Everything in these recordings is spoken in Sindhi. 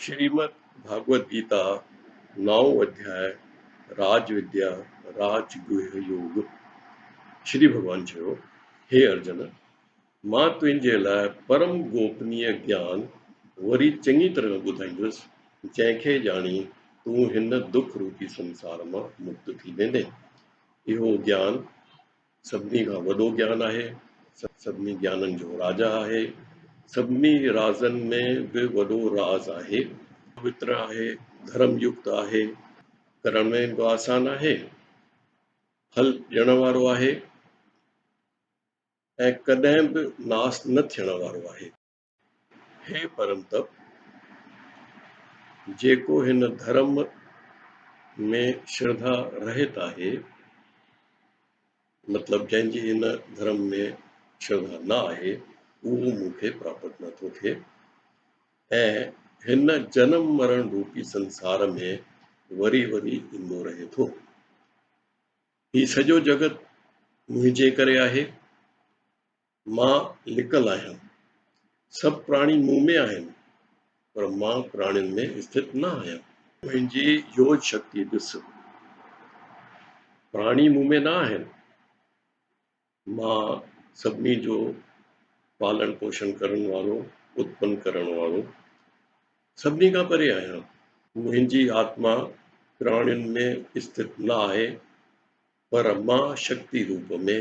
شريمد ڀاڳوت گيتا، نائون اڌياء، راج وديا، راج گوهه يوگ، شري ڀڳوان چيو، هي ارجن! مان تنهنجي لاء پرم گوپنيء گيان وري چڱي طرح ٻڌائيندس، جنهن کي ڄاڻي تون هن دک روپي سنسار مان مڪت ٿي ويندين. اهو گيان. سڀني کان وڏو گيان آهي، سڀني گيانن جو راجا آهي، سڀني رازن ۾ به وڏو راز آهي. پوتر آهي، ڌرم يڪت آهي، ڪرڻ ۾ به آسان آهي، ڦل ڏيڻ وارو آهي ۽ ڪڏهن به ناس نه ٿيڻ وارو آهي. هي پرمتپ، جيڪو هن ڌرم ۾ شرڌا رهت آهي، مطلب جنهن جي هن ڌرم ۾ شرڌا نه آهي، اهو مون کي پراپت نه ٿو ٿئي ۽ هن جنم مرڻ روپي سنسار ۾ وري وري ايندو رهي ٿو. هي سڄو جڳت منهنجي ڪري آهي، مان لڪل آهيان. سڀ پراڻي مون ۾ آهن، پر مان پراڻين ۾ اسٿت نه آهيان. منهنجي يوج شڪتي ڏس. پراڻي مون ۾ نه آهن. مان سڀني جو پالڻ پوشڻ ڪرڻ وارو، اتپن ڪرڻ وارو، سڀني کان پري آهيان. منهنجي آتما پراڻين ۾ اسٿت نه آهي، پر مان شڪتي روپ ۾،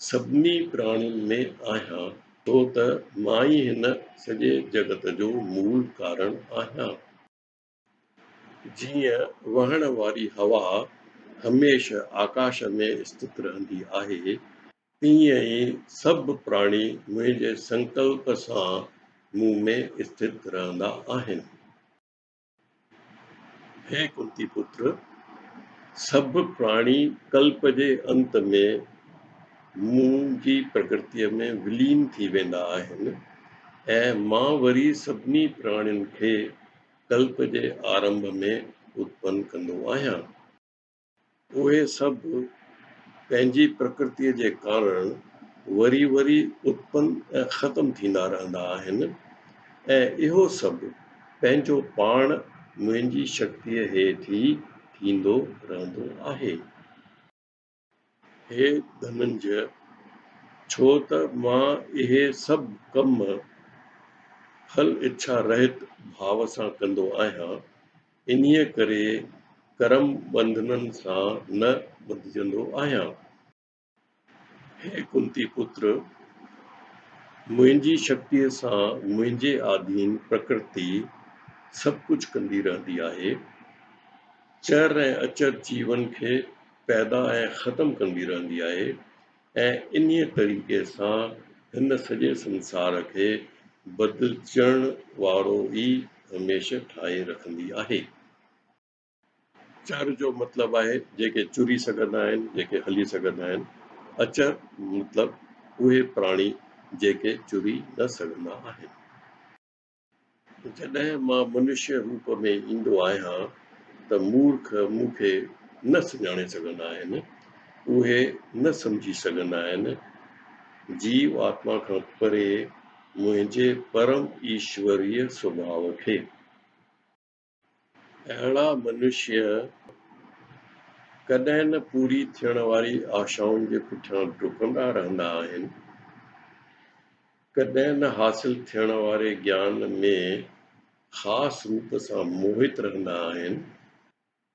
سڀني پراڻين ۾ آهيان، ڇو ته مان ئي هن سڄي جڳت جو مول ڪارڻ آهيان. جيئن وهڻ واري هوا هميشه آڪاش ۾ اسٿت رهندي آهي، تيئن ئي سڀ پراڻي منهنجي سنڪلپ سان مون ۾ اسٿت رهندا آهن. هي ڪنتي پٽ! سڀ پراڻي ڪلپ جي انت ۾ مون جي پرڪرتيء ۾ ولين ٿي ويندا آهن ۽ مان وري سڀني پراڻين کي ڪلپ جي آرنڀ ۾ اتپن ڪندو آهيان. اهي سڀ پنهنجي پرڪرتيء جي ڪارڻ وري وري اتپن ۽ ختم ٿيندا رهندا آهن ۽ اهو سڀ پنهنجو پاڻ منهنجي شڪتيء هيٺ ئي ٿيندو رهندو آهي. هي ڌننجئ! ڇو ته مان اهي سڀ ڪم ڦل اڇا رهت ڀاو سان ڪندو آهيان، انهيء ڪري ڪرم ٻنڌنن سان نه ٻڌجندو آهيان. هي ڪنتي پتر! منهنجي شڪتيء سان منهنجي آڌين پرڪرتي سڀ ڪجهه ڪندي رهندي آهي. چر ۽ اچر جيون کي پيدا ۽ ختم ڪندي رهندي آهي. ۽ انهيء طريقي سان هن سڄي سنسار کي بدلجڻ وارو ئي هميشه ٺاهي رکندي آهي. چر جو مطلب آهي جيڪي چري سگهندا آهن، جيڪي هلي سگهندا آهن. اچر مطلب اهي پراڻي جيڪي چري نه سگهندا آهن. جڏهن مان منشيه روپ ۾ ايندو آهيان ته مورک مون کي نه سڃاڻي سگهندا آهن، اهي نه سمجهي سگهندا آهن، جيو آتما کان پري منهنجي پرم ايشوريه سڀاء کي. اهڙا منشيه ڪڏهن نه پوري ٿيڻ واري آشائن جي پٺيان ڊڪندا رهندا آهن، ڪڏهن نه حاصل ٿيڻ واري گيان ۾ خاص روپ سان موهت رهندا آهن،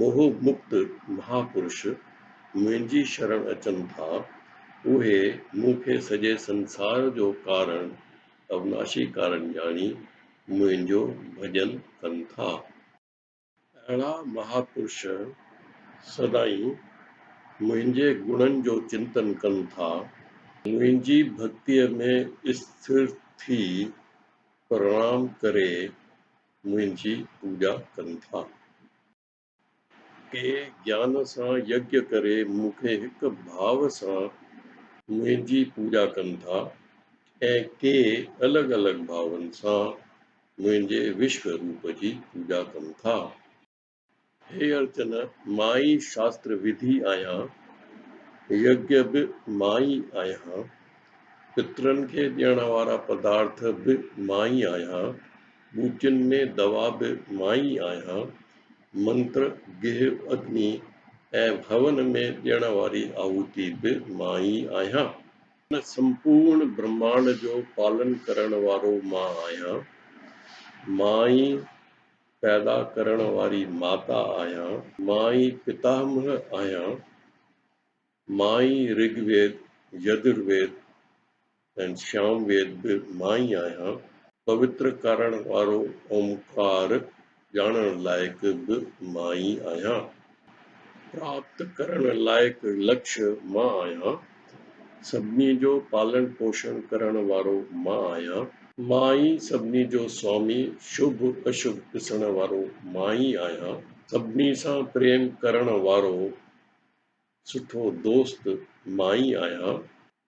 موهه مڪت مها پرش منهنجي شرڻ اچن ٿا، اهي مون کي سڄي سنسار جو ڪارڻ اويناشي ڪارڻ ڄاڻي منهنجو ڀڄن ڪن ٿا. اهڙا مها پرش سدائين منهنجي گڻن جو چنتن ڪن ٿا، منهنجي ڀڳتيء ۾ اسٿر ٿي پرڻام ڪري منهنجي پوڄا ڪن ٿا. ڪي گيان سان يگيا ڪري مون کي هڪ ڀاء سان منهنجي پوڄا ڪن ٿا ۽ ڪي الڳ الڳ ڀاون سان منهنجي وشوه روپ جي پوڄا ڪن ٿا. هي ارجن، مان ئي شاستر وڌي آهيان، يگيا به مان ئي آهيان، پترن کي ڏيڻ وارا پدارٿ به مان ئي آهيان، ٻوٽين ۾ دوا به مان ئي آهيان، منتر، گيهه، اگني ۽ هون ۾ ڏيڻ واري آهوتي به مان ئي آهيان. هن سمپورڻ برهمانڊ جو پالن ڪرڻ وارو مان آهيان، مان ئي پيدا ڪرڻ واري ماتا آهيان. مان ئي پتاهمه آهيان. مان ئي رگ ويد، يجر ويد ۽ سيام ويد به مان ئي آهيان. پوتر ڪرڻ وارو اومڪار ڄاڻڻ لائق به مان ئي آهيان. پراپت ڪرڻ لائق لڪش مان آهيان. سڀني جو پالڻ پوشڻ ڪرڻ وارو مان آهيان. مان ئي سڀني جو سوامي شڀ اشڀ ڏسڻ وارو مان ئي آهيان. سڀني سان پريم ڪرڻ وارو سٺو دوست مان ئي آهيان.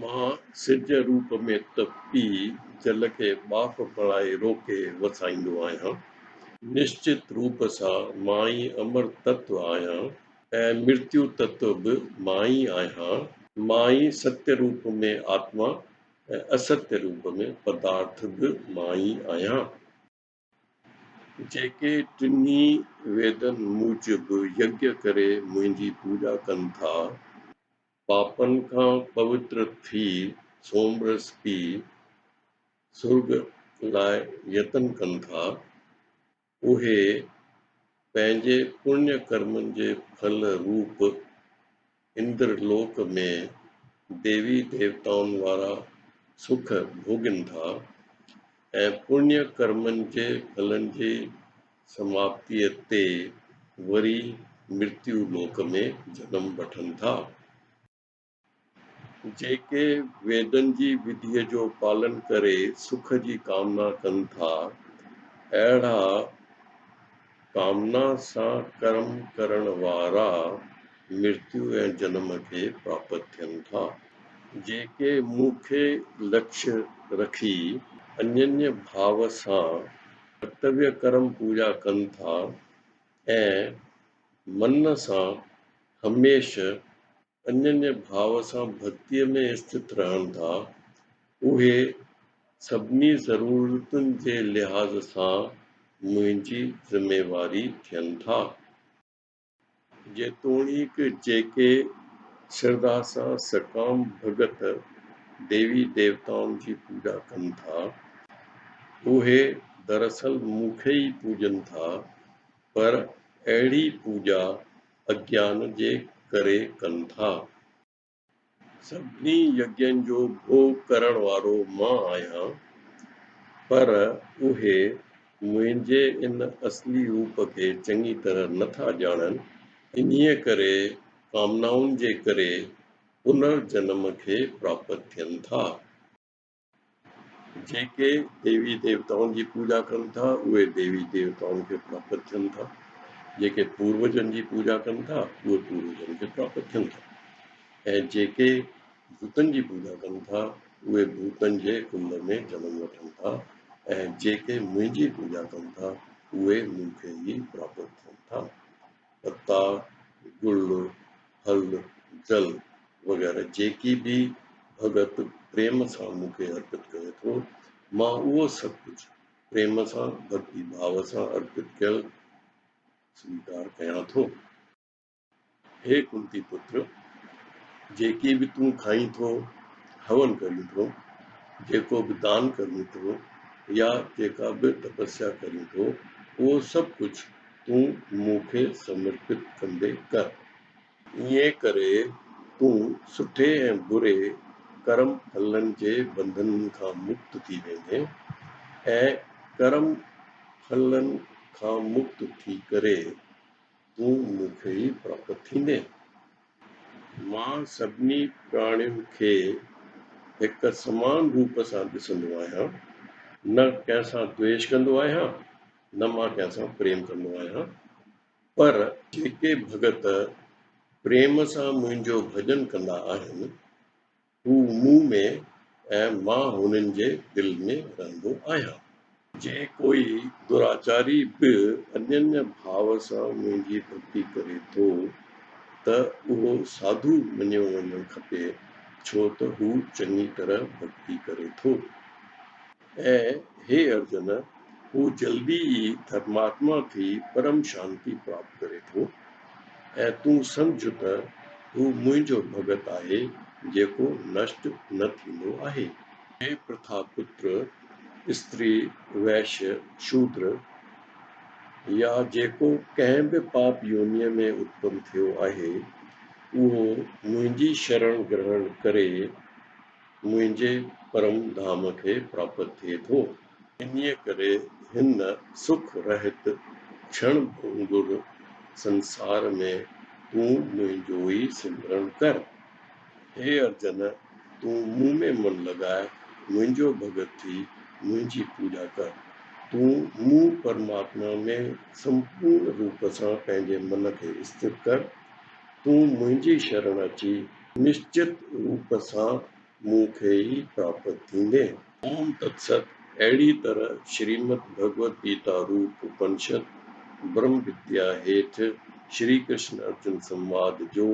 مان سج روپ ۾ ته پي جل کي ٻاڦ بڻائي روڪي وسائيندو آهيان. نشچت روپ سان مان ئي امر تتو آهيان ۽ مرتيو تتو به مان ئي آهيان. مان ئي ستيو روپ ۾ آتما ۽ استيو روپ ۾ پدارٿ به مان ئي آهيان. جيڪي ٽنهي ويدن موجب يگيا ڪري منهنجي پوڄا ڪن ٿا، پاپن کان پوتر ٿي سومرس پي سرڳ لاء يتن ڪن ٿا، اهي پنهنجي پڃ ڪرمن جي ڦل روپ اندر لوڪ ۾ ديوي ديوتائن وارا سک ڀوڳين ٿا ۽ پڃ ڪرمن جي ڦلن جي سماپتيء تي وري مرتيو لوڪ ۾ جنم وٺن ٿا. جيڪي ويدن جي وڌيء جو پالن ڪري سک جي ڪامنا ڪن ٿا، اهڙا ڪامنا سان ڪرم ڪرڻ وارا مرتيو ۽ جنم کي پراپت ٿين ٿا. جيڪي مون کي لڪش رکي انينء ڀاو سان ڪرتويه ڪرم پوڄا ڪن ٿا ۽ من سان هميشه انجن جي ڀاء سان ڀتيء ۾ استٿ رهن ٿا، اهي سڀني ضرورتن جي لحاظ سان منهنجي ذميواري ٿين ٿا. جيتوڻيڪ جيڪي شرڌا سان سڪام ڀڳت ديوي ديوتائن جي پوڄا ڪن ٿا، اهي دراصل مون کي ئي پوڄن ٿا، پر اهڙي پوڄا اگيان جي ڪري ڪن ٿا. سڀني يگين جو ڀوڳ ڪرڻ وارو مان آهيان، پر اهي منهنجي ان اصلي روپ کي چڱي طرح نه ٿا ڄاڻن، انهيء ڪري ڪامنائن جي ڪري پنر جنم کي پراپت ٿين ٿا. جيڪي ديوي ديوتائن جي پوڄا ڪن ٿا، اهي ديوي ديوتائن کي پراپت ٿين ٿا. جيڪي پوروجن جي پوڄا ڪن ٿا، اهي پوروجن کي پراپت ٿين ٿا. ۽ جيڪي ڀوتن جي پوڄا ڪن ٿا، اهي ڀوتن جي ڪنڊ ۾ جنم وٺن ٿا. ۽ جيڪي منهنجي پوڄا ڪن ٿا، اهي مون کي ئي پراپت ٿين ٿا. پتا، گل، ڦل، جل وغيره جيڪي به ڀڳت پريم سان مون کي ارپت ڪري ٿو، مان اهو سڀ ڪجهه پريم سان، ڀڳتي ڀاو سان ارپت ڪيل سويڪار ڪيان ٿو. هي ڪنتي پتر! جيڪي به تون کائين ٿو، هون ڪرين ٿو، جيڪو به دان ڪرين ٿو يا جيڪا به تپسيا ڪرين ٿو، اهو سڀ ڪجهه تون مون کي سمرپت ڪندي ڪر. ائين ڪري تون سٺي ۽ بري ڪرم ڦلن جي بنڌن کان مڪت ٿي ويندين ۽ ڪرم ڦلن کان مڪت ٿي ڪري تون مون کي ئي پراپت ٿيندين. مان سڀني پراڻين کي هڪ سمان روپ سان ڏسندو آهيان، نه ڪنهن سان دويش ڪندو آهيان، نه مان ڪنهن سان پريم ڪندو آهيان، پر جيڪي ڀڳت پريم سان منهنجو ڀڄن ڪندا آهن، هو مون ۾ ۽ مان هنن جي دل ۾ رهندو آهيان. جي ڪوئي دراچاري به انينء ڀاء سان منهنجي ڀڳتي ڪري ٿو، ته اهو ساڌو مڃيو وڃڻ کپي، ڇو ته هو چڱي طرح ڀڳتي ڪري ٿو. اي هي ارجن! هو جلدي ئي ڌرماتما ٿي پرم شانتي پراپت ڪري ٿو ۽ تون سمجهه ته هو منهنجو ڀڳت آهي جيڪو نشٽ نه ٿيندو آهي. هي پرٿا پتر، استري، ويش، شودر يا جيڪو ڪنهن به پاپ يونيء ۾ اتپن ٿيو آهي، اهو منهنجي شرڻ گرهڻ ڪري، منهنجي پرم ڌام کي پراپت ٿئي ٿو. انهيء ڪري هن سک رهت ڇڻ ڀونگر سنسار ۾ تون منهنجو ئي سمرڻ ڪر. هي ارجن! تون مون ۾ من لڳاء، منهنجو ڀڳت ٿي، منهنجي پوڄا ڪر. تون مون پرماتما ۾ سمپورن روپ سان پنهنجي من کي استر ڪر. تون منهنجي شرڻ اچي نشچت روپ سان مون کي ئي پراپت ٿيندين. اوم تتست اهڙي طرح شريمد ڀڳوت گيتا روپ اپنشد برهم وديا هيٺ شري ڪرشن ارجن سنواد جو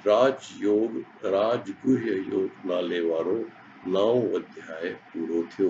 راج يوگ راج گهيه يوگ نالي وارو نائون اڌياء پورو ٿيو.